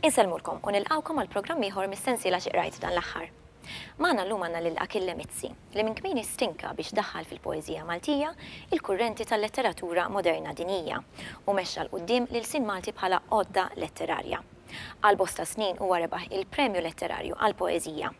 Insellmulkom u nilqgħukom għal programm ieħor mis-sensiela Xi Qrajt dan l-Aħħar. Magħna llum għandna lil Achille Mizzi, li minn kmieni stinka biex daħħal fil-poeżija Maltija il-kurrenti tal-letteratura moderna dinjija u mexxa 'l quddiem l-ilsien Malti bħala għodda letterarja. Għal bosta snin huwa rebaħ il-Premju Letterarju għall-Poeżija.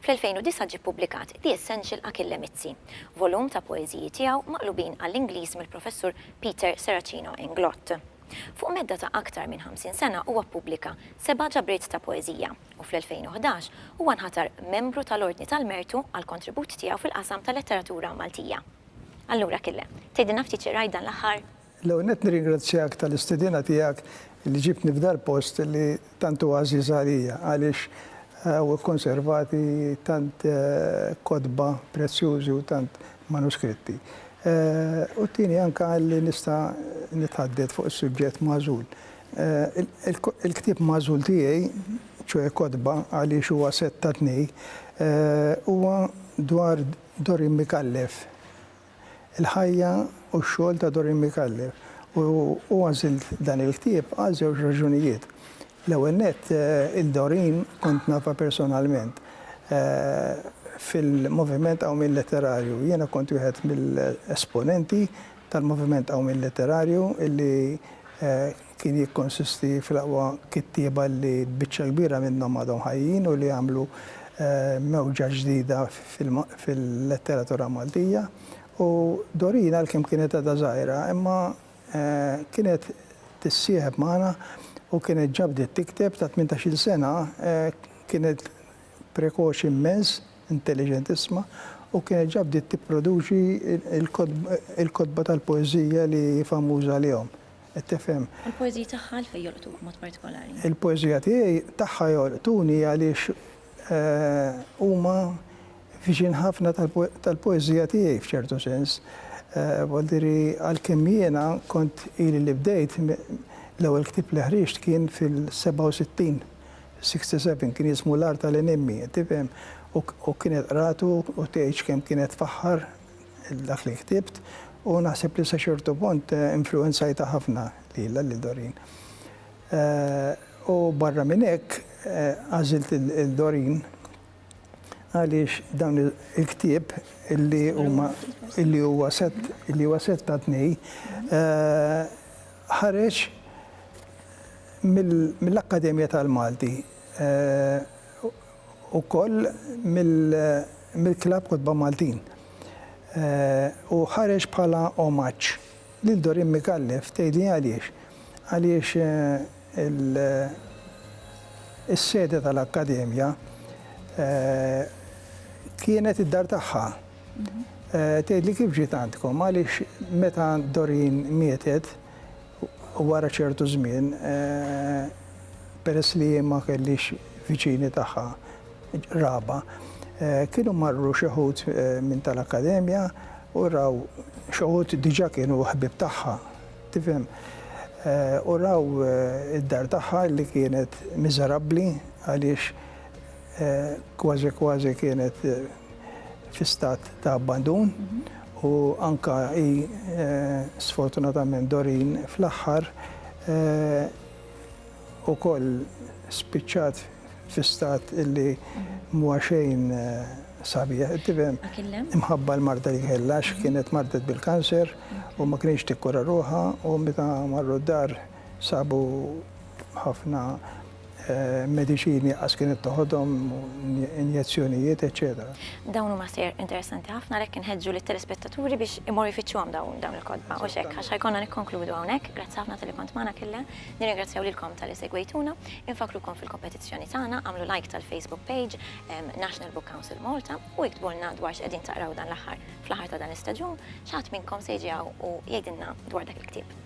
Fl-2009 ġie ppubblikat The Essential Achille Mizzi, volum ta' poeżiji tiegħu maqlubin għall-Ingliż mill-Professur Peter Serracino Inglott. Fuq medda ta' aktar minn 50 sena huwa ppubblika seba' ġabriet ta' poeżija u fl-2011 huwa nħatar membru tal-Ordni tal-Mertu għall-kontribut tiegħu fil-qasam tal-letteratura Maltija. Allura Achille, tgħidilna ftit xi qrajt dan l-aħħar? L-ewwel nett nirringrazzjak tal-istedina tiegħek li ġibtni f'dal post li tant huwa għażiż għalija għaliex hawn ikkonservati tant kotba prezzjużi u tant manuskritti. U t-tieni anke li nista' nitħaddet fuq is-suġġett magħżul. Il-ktieb magħżul tiegħi, ċoe kotba għaliex huwa sett ta' tnej, huwa dwar Dorin Micallef, Il-ħajja u x-xogħol ta' Doreen Micallef u u għażilt dan il-ktieb għal żewġ raġunijiet. L-ewwel nett, lil Doreen kont nafha personalment. Fil-Moviment Qawmien Letterarju jiena kont wieħed mill-esponenti tal-Moviment Qawmien Letterarju illi kien jikkonsisti fl-aqwa kittieba li biċċa kbira minnhom għadhom ħajjin u li għamlu mewġa ġdida fil-letteratura Maltija u Doreen għalkemm kienet għadha żgħira imma kienet tissieħeb magħna u kienet ġa bdiet tikteb ta' tmintax-il sena kienet prekoċi immens, intelliġentissma u kienet ġa bdiet tipproduċi l-kotba tal-poeżija li hi famuża għalihom. Qed tifhem? U l-poeżiji tagħha għalfejn jolqtuk b'mod partikolari? Il-poeżija tiegħi tagħha jolqtuni għaliex huma viċin ħafna tal-poeżija tiegħi f'ċertu sens. Voldiri għalkemm jiena kont ili li bdejt, l-ewwel ktieb li ħriġt kien fil-67, 67, kien jismu L-Għar tal-Enimmi, qed tifhem? U kienet qratu u tgħidx kemm kienet tfaħħar dak li ktibt u naħseb li sa ċertu punt influwenzajtha ħafna lilha, lil Doreen. U barra minn hekk għażilt lil Doreen għaliex dawn il-ktieb illi huma illi huwa set illi huwa set ta' tnej ħareġ mill-Akkademja tal-Malti ukoll mill-Klabb Kotba Maltin u ħareġ bħala omaġġ lil Doreen Micallef. Tgħidli għaliex? Għaliex is-sede tal-Akkademja kienet id-dar tagħha. Tgħidli kif ġiet għandkom? Għaliex meta Doreen mietet, Wara ċertu żmien, peress li hi ma kellhiex viċini tagħha qraba, kienu marru xi wħud minn tal-Akkademja u raw, xi wħud diġà kienu ħbieb tagħha, tifhem, u raw id-dar tagħha li kienet miżerabbli għaliex, kważi kważi kienet fi stat ta' abbandun u anke hi sfortunatament Doreen fl-aħħar ukoll spiċċat fi stat li m'huwa xejn sabiħ, tifhem, imħabba l-marda li kellha għax kienet mardet bil-kanser u ma kinitx tikkura ruħha u meta marru d-dar sabu Ħafna mediċini qas kienet toħodhom, injezzjonijiet, eċċetera. Dawn huma sejjer interessanti ħafna għalhekk inħeġġu lit-telespettaturi biex imorru jfittxuhom dawn il-kotba u x'hekk għax ħajkonna nikkonkludu hawnhekk. Grazzi ħafna talli kont magħna Kille. Nirringrazzjaw lilkom talli segwejtuna. Infakkrukom fil-kompetizzjoni tagħna, agħmlu like tal-Facebook page National Book Council Malta u iktbulna dwar x'qegħdin taqraw dan l-aħħar. Fl-aħħar ta' dan l-istaġun, xi ħadd minnkom se jiġi hawn u jgħidilna dwar dak il-ktieb.